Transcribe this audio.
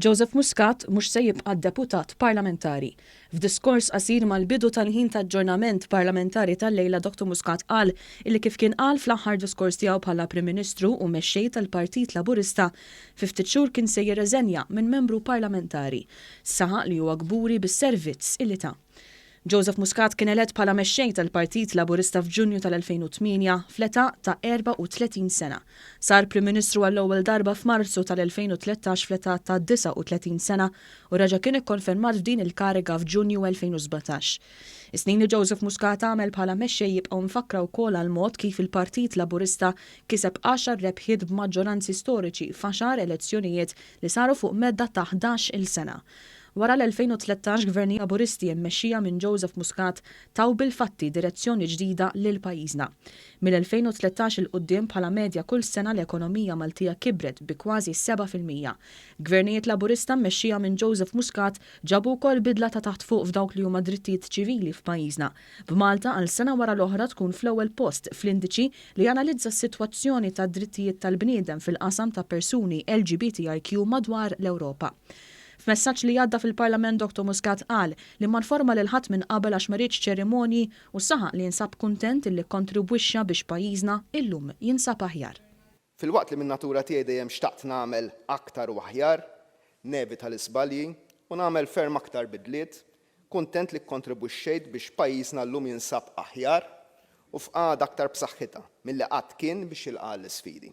Joseph Muscat mhux se jibqa' Deputat Parlamentari. F'diskors qasir mal-bidu tal-ħin ta' aġġornament Parlamentari tal-lejla Dottor Muscat qal illi kif kien qal fl-aħħar diskors tiegħu bħala Prim Ministru u Mexxej tal-Partit Laburista fi ftit xhur kien se jirreżenja minn Membru Parlamentari. Saħaq li huwa kburi bis-servizz illi ta. Joseph Muscat kien elett bħala Mexxej tal-Partit Laburista f'Ġunju tal-2008 fl-età ta' 34 sena. Sar Prim Ministru għall-ewwel darba f'Marzu tal-2013 fl-età ta' 39 sena u reġa' kien ikkonfermat f'din il-kariga f'Ġunju 2017. Is-snin li Joseph Muscat għamel bħala Mexxej jibqgħu mfakkra wkoll għall-mod kif il-Partit Laburista kiseb għaxar rebħiet b'maġġoranzi storiċi f'għaxar elezzjonijiet li saru fuq medda ta' ħdax-il sena. Wara l-2013 Gvern Laburisti immexxija minn Joseph Muscat taw bil-fatti direzzjoni ġdida lil pajjiżna. Mill-2013 'il quddiem bħala medja kull sena l-ekonomija Maltija kibret bi kważi seba' fil-mija. Gvernijiet Laburista mmexxija minn Joseph Muscat ġabu wkoll bidla ta' taħt fuq f'dawk li huma drittijiet ċivili f'pajjiżna, b'Malta għal sena wara l-oħra tkun fl-ewwel post fl-indiċi li janalizza s-sitwazzjoni tad-drittijiet tal-bniedem fil-qasam ta' persuni LGBTIQ madwar l-Ewropa. F'messaġġ li għadda fil-Parlament Dr Muscat qal li ma nforma lil ħadd minn qabel għax ma riedx ċerimonji u saħaq li jinsab kuntent illi kkontribwixxa biex pajjiżna illum jinsab aħjar. Filwaqt li min-natura tiegħi dejjem xtaqt nagħmel aktar u aħjar, nevita l-iżbalji u nagħmel ferm aktar bidliet, kuntent li kkontribwixxejt biex pajjiżna llum jinsab aħjar u f'qagħda aktar b'saħħitha milli qatt kien biex jilqa' għall-isfidi.